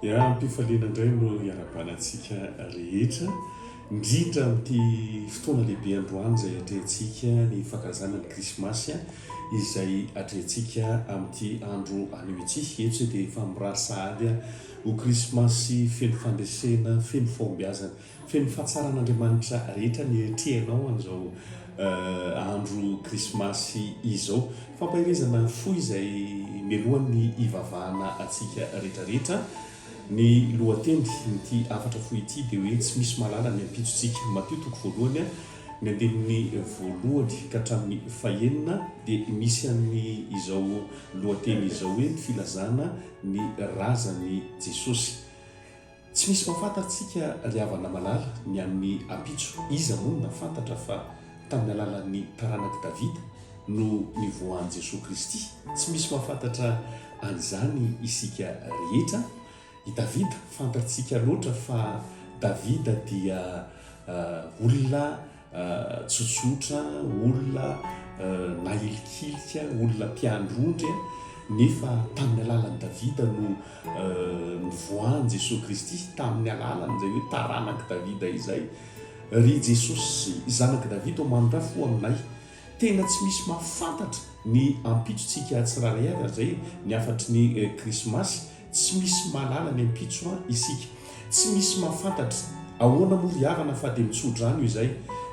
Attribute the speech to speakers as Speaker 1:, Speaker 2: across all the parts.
Speaker 1: Ya, ampifaliana indray no iarabanantsika rehetra, indrindra amin'ity fotoana lehibe androany izay atrehantsika ny fankalazana ny Krismasy, izay atrehantsika amin'ity andro anio ity. Eto isika dia efa mirary sahady ho Krismasy feno fandresena, feno fahombiazana Feno fahatsaran'Andriamanitra rehetra ny eritrehinao an'izao andro krismasy izao. Fampaherezana fo izay melohan'ny hivavahana antsika rehetrarehetra. Ny lohatenin'ity hafatra fohy ity dia hoe Tsy misy mahalala ny ampitsontsika. Matio toko voalohany, ny andininy voalohany ka hatramin'ny fahenina dia misy an'izao lohateny izao hoe ny filazana ny razan'i Jesosy. Tsy misy mahafantatsika ry havana malala ny amin'ny ampitso, iza moa no nahafantatra fa tamin'ny alalan'ny taranak'i Davida no nivoahan'i Jesoa Kristy? Tsy misy mahafantatra an'izany isika rehetra. I Davida fantatsika loatra fa Davida dia olona tsotsotra, olona nahilikilika, olona mpiandry ondry, nefa tamin'ny alalan'i Davida no nivoahan'i Jesoa Kristy, tamin'ny alalany izay hoe taranak'i Davida izay. Ry Jesosy zanak'i Davida ô manondrafy ho aminay. Tena tsy misy mahafantatra ny ampitsontsika tsirairay avy ary izay ny hafatry ny krismasy. Tsy misy mahalala ny ampitso an isika. Tsy misy mahafantatra. Ahoana moa ry havana fa dia mitsodrano izay.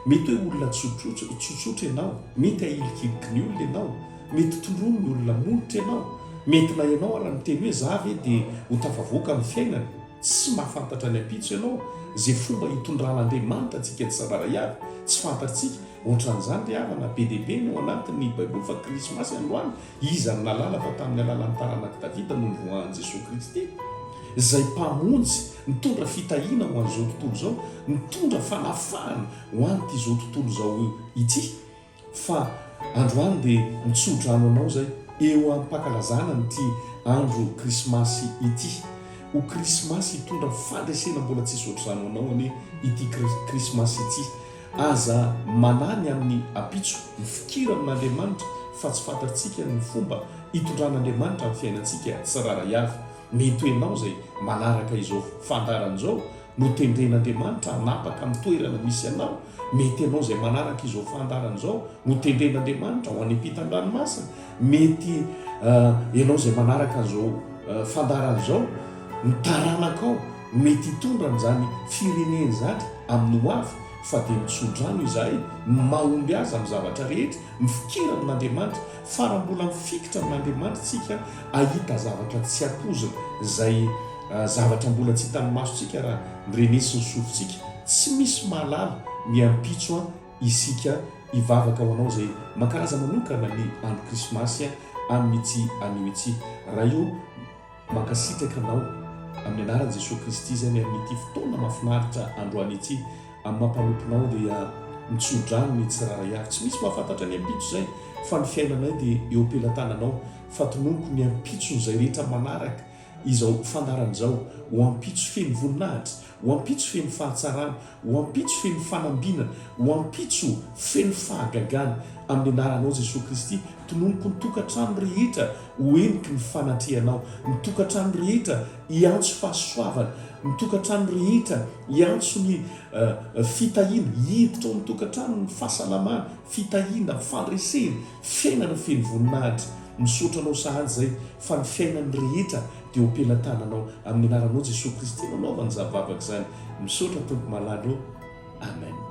Speaker 1: Mety hoe olona tsotsotra ianao, mety ahilikiliky ny olona ianao, mety toronin'ny olona molotra ianao, mety na ianao ara miteny hoe za ve dia ho tafavoaka amin'ny fiainana. Tsy mahafantatra ny ampitso ianao. Izay fomba itondran'Andriamanitra antsika tsibaraiavy, tsy fantatrtsika. Ohatran'izany ry havana, be dia be ny ao anatin'ny baiboly fa krismasy androany Iza no nahalala fa tamin'ny alalan'ny taranak'i Davida no nivoahan'i Jesoa Kristy, izay Mpamonjy nitondra fitahiana ho an'izao tontolo izao, nitondra fanafahana ho an'itizao tontolo izao ity, fa androany dia mitsodrano anao izay eo am-pankalazana an'ity andro Krismasy ity. Ho Krismasy hitondra fandresena mbola tsy soatr'izany ho anao anie ity Krismasy ity. Aza manahy ny amin'ny ampitso, mifikira amin'Andriamanitra fa tsy fantatsika ny fomba hitondran'Andriamanitra ny fiainantsika tsirairay avy. Mety ho ianao izay manaraka izao fandaharana izao no tendren'Andriamanitra hanapaka amin'ny toerana misy anao, mety ianao izay manaraka izao fandaharana izao no tendren'Andriamanitra ho any ampitan-dranomasina, mety ianao izay manaraka an'izao fandaharana izao ny taranakao, Mety hitondra an'izany fireneny zany amin'ny ho avy fa dia mitsodrano izahay ny mahomby azy amin'ny zavatra rehetra, mifikira amin'Andriamanitra, fara mbola mifikitra amin'Andriamanitra tsika ahita zavatra tsy ampoizina, izay zavatra mbola tsy hitan'ny masotsika raha mirenetsy ny sofintsika, tsy misy mahalala ny ampitso an isika hivavaka ho anao izay mankalaza manokana ny andro krismasy an amin'ity anio ity raha eo Mankasitraka anao amin'ny anaran'i Jesoa Kristy izay ny amin'ity fotoana mahafinaritra androany ity amin'ny maha mpanomponao dia mitsodrano ny tsirairay avy. Tsy misy mahafantatra ny ampitso izay fa ny fiainanay dia eo am-pelatananao. Fatinoniko ny ampitson'izay rehetra manaraka izao fandaharana izao ho ampitso feno voninahitra Ho ampitso feno fahatsarana, ho ampitso feno fanambinana, ho ampitso feno fahagagana. Amin'ny anaranao Jesoa Kristy, tononiko ny tokantrano rehetra ho heniky ny fanatrehanao, ny tokantrano rehetra hiantso fahasoavana, ny tokantrano rehetra hiantso ny fitahiana, hiditra ao amin'ny tokantrano ny fahasalamana, fitahiana, fandresena, Fiainana feno voninahitra. Misaotra Anao sahady izay fa ny fiainan'ny rehetra dia ho pelatananao. Amin'ny anaranao Jesoa Kristy no anaovana izany vavaka izany. Misaotra Tompo malala ô. Amen.